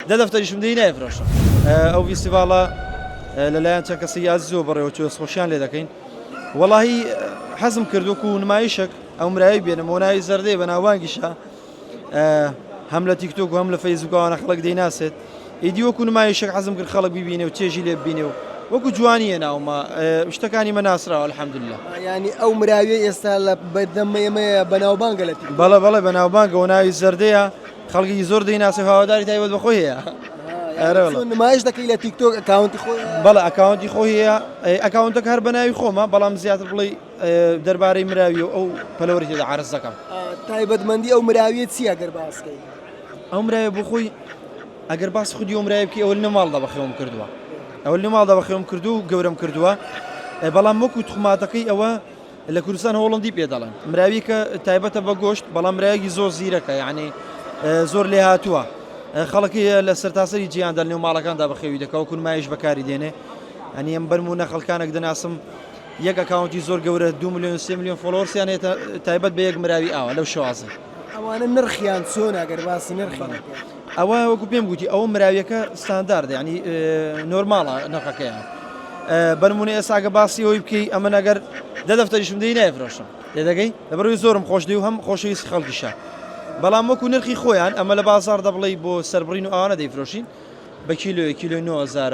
دە دەفتەریشم دەی نایفرۆشم. ئەو ڤیستیڤاڵە لەلایەن چەند کەسێکی ئازیزەوە بەڕێوە چووە دەستخۆشیان لێ دەکەین وەڵاهی حەزم کرد وەکو نمایشەک ئەو مرایەی بێنم بۆ ناوی زەردەی بە ناوانگیشە هەم لە تیکتۆک هەم لە فەیسبوکەوانە خەڵک دەیناسێت ئیدی وەکو نمایشەک حەزم کرد خەڵک ببینێ و چێژی لێ ببینێ و وەکو جوانیە ناومە شتەکانی مە ناسراوە الحەمدللا ینی ئەو مراوی ئێستا لە بەدەمە ئێمەیە بەناوبانگە لە بەڵە بەڵێ بەناوبانگەوە ناوی زەردەیە خەڵکێکی زۆر دەیناسێ هاواداری تایبەت بە خۆی هەیە ئەرە والله. چۆن نمایش دەکەی لە تیک تۆک ئەکاونتی خۆی بەڵێ ئەکاونتی خۆ هەیە ئەی ئەکاونتەکە هەر بە ناوی خۆمە بەڵام زیاتر بڵێ ئێ، دەربارەی مراوی و ئەو پەلەوەری تێدا عەرز دەکەم تایبەتمەندی ئەو مراویە چییە گەر باسکەی ئەو مراوی بۆ خۆی ئەگەر باس خودی ئەو مراوی بکەی ئەوە لە ماڵدا بەخێوم کردووە ئەوە لە ماڵدا بەخێوم کردووە و گەورەم کردووە ئێ، بەڵام وەکو توخماتەکەی ئەوە لە کوردستان هۆڵندی پێ دەڵێن. مراویکە تایبەتە بە گۆشت بەڵام مراویەکی زۆر زیرەکە یانی زۆر لێهاتووە خەڵکی لە سەرتاسەری جیاندا لەنێو ماڵەکاندا بەخێوی دەکەوە کونمایش بەکاری دێنێ ئەنی ئەم بەرمونە خەڵکانێک دەناسم یەک ئەکاونتی زۆر گەورە دو میلیۆن سێ میلیۆن فۆلۆرسیان هێتە تایبەت بە یەک مراوی ئاوە لەو شوازە ئەوانە نرخیان چۆن ئەگەر باسی نرخیان ئەوە وەکو پێم گوتی ئەوە مراویەکە ستانداردە یعنی نۆرماڵە نرخەکەیان بەرمونە ئێساگە باسی ئەوی بکەی ئەمن ئەگەر دە دەفتەریشم دەی نایفرۆشم لێدەگەی لەبەروی زۆرم خۆش دی و هەم خۆشەویست خەڵکیشە بەڵام وەکو نرخی خۆیان ئەمە لە بازار دەبڵی بۆ سربڕین و ئاوانە دەیفرۆشین بە کیلوێ کیلو 9000